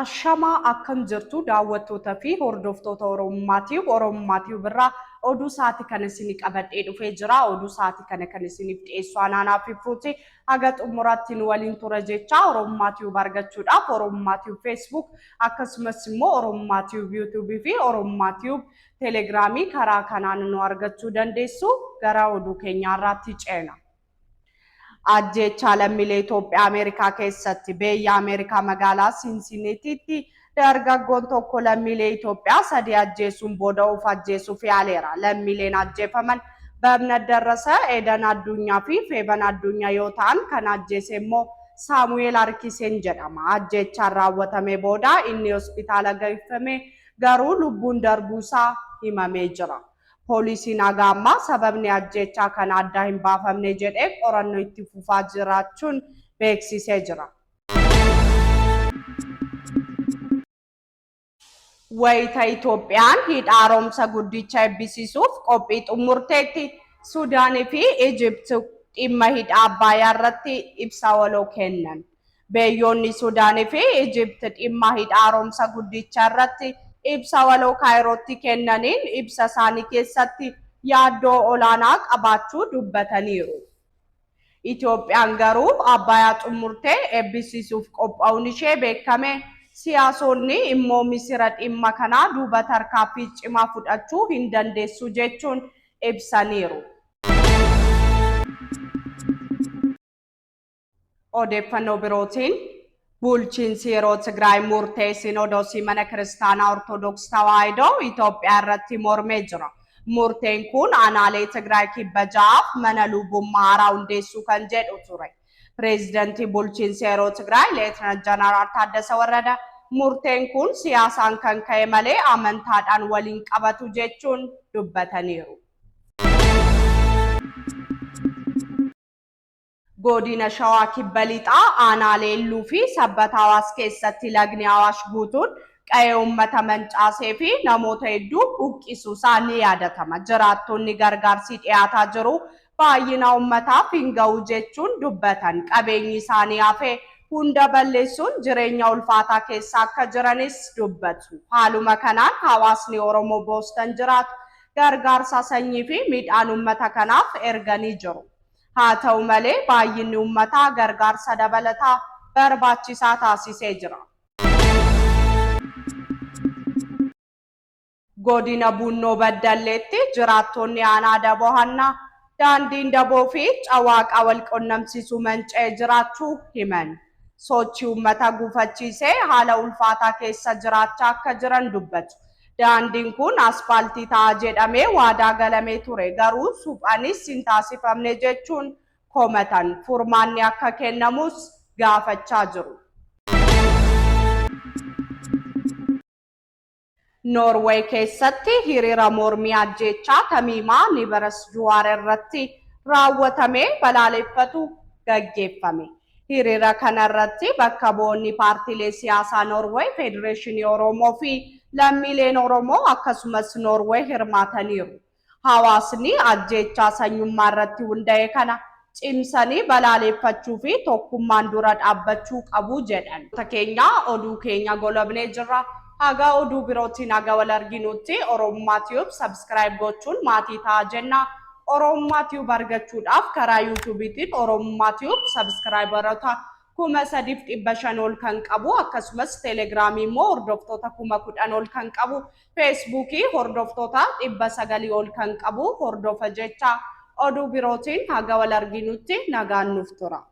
Ashamaa akkam jirtu daawwattoota fi hordoftoota Oromummaatiif Oromummaatiif birraa oduu sa'aatii kana isinii qabadhee dhufee jira. Oduu sa'aatii kana kan isiniif dhiyeessu anaanaa fi fuuti haga xumuraatti nu waliin tura jecha Oromummaatiif argachuudhaaf Oromummaatiif Facebook Akkasumas immoo Oromummaa Tube YouTube fi Oromummaa Tube Telegiraamii karaa kanaan nu argachuu dandeessu. Gara oduu keenyaa irraatti ceena. Ajjeechaa lammiilee Itoophiyaa Ameerikaa keessatti beeyya Ameerikaa magaalaa Sinsiniitiitti dargaggoon tokko lammiilee Itoophiyaa sadii ajjeesuun booda of ajjeesuuf yaaleera. Lammiileen ajjeefaman Babnat Darrasa, Edan Addunyaa fi Feeban Addunyaa yoo ta'an kan ajjeese immoo Saamu'eel Arkiseen jedhama. Ajjeechaan raawwatamee booda inni hospitaala geeffamee garuu lubbuun darbuu isaa himamee jira. Poolisiin haga ammaa sababni ajjeechaa kanaa addaa hin baafamne jedhee qorannoo itti fufaa jiraachuun beeksisee jira. Wayita Itoophiyaan Hidha Haaromsa Guddicha eebbisiisuuf qophii xummurteetti Sudaan fi Ijipt dhimma Hidha Abbaayaa irratti ibsa waloo kennan. Beyyoonni Sudaan fi Ijipt dhimma Hidha Haaromsa Guddicha irratti ibsa waloo Kaayirootti kennaniin ibsa isaanii keessatti yaaddoo olaanaa qabaachuu dubbataniiru. Itoophiyaan garuu Abbaayaa xummurtee eebbisiisuuf qopha'uun ishee beekkame. Siyaasoonni immoo Misira dhimma kanaa duuba tarkaaffii cimaa fudhachuu hin dandeessu jechuun ibsaniiru. Odeeffannoo birootiin, Bulchiinsi yeroo Tigraay murtee Sinoodosii Mana Kiristaanaa Ortodoks Tawaahidoo Itoophiyaa irratti mormee jira. Murteen kun aanaalee Tigraay kibba ja'aaf mana lubummaa haaraa hundeessuu kan jedhu ture. Pireezidantii bulchiinsa yeroo Tigraay Leetnant Janaraal Taaddasa Warrada murteen kun siyaasaan kan ka'e malee amantaadhaan wal hin qabatu jechuun dubbataniiru. Godina Shawaa Kibba Lixaa aanaalee Illuu fi Sabbata Awaash keessatti lagni Awaash guutuun qa'ee uummata mancaasee fi namoota hedduu buqqisuu isaa ni yaadatama. Jiraattonni gargaarsii dhiyaataa jiru baay'ina uummataaf hin ga'u jechuun dubbatan. Qabeenyi isaanii hafe hunda balleessuun jireenya ulfaataa keessa akka jiranis dubbatu. Haaluma kanaan hawaasni Oromoo Boostan jiraatu gargaarsa sanyii fi midhaan uummata kanaaf erganii jiru. Haata'u malee, baay'inni ummataa gargaarsa dabalataa barbaachisaa taasisee jira. Godina Buunnoo Baddalleetti jiraattoonni aanaa Daboo Hannaa daandiin Daboo fi Cawaaqa walqunnamsiisu manca'ee jiraachuu himan. Sochii ummata gufachiisee haala ulfaataa keessa jiraachaa akka jiran dubbatu. Daandiin kun aspaaltii ta'a jedhamee waadaa galamee ture, garuu suphanis hin taasifamne jechuun komatan. Furmaanni akka kennamus gaafachaa jiru. Noorway keessatti hiriira mormii ajjeechaa Tamiimaa Niberes Juwaar irratti raawwatame balaaleffatu gaggeeffame. Hiriira kanarratti bakka bu'oonni paartiilee siyaasaa Noorway, Federeeshinii Oromoo fi lammiileen Oromoo akkasumas Noorway hirmaataniiru. Hawaasni ajjeechaa sanyummaa irratti hunda'e kana cimsanii balaaleeffachuu fi tokkummaan dura dhaabbachuu qabu jedhan. keenya oduu keenya golabnee jirra haga oduu birootiin haga wal arginuutti oromummaa tube subscribe gochuun maatii ta'aa jenna Oromummaa Tube argachuudhaaf karaa YouTubetiin Oromummaa Tube sabiskiraayibaroota kuma sadiif dhibba shan ol kan qabu akkasumas Telegiraamii immoo hordoftoota kuma kudhan ol kan qabu Feesbuukii hordoftoota dhibba sagalii ol kan qabu hordofa jecha oduu birootiin haga wal arginutti nagaan nuuf tura.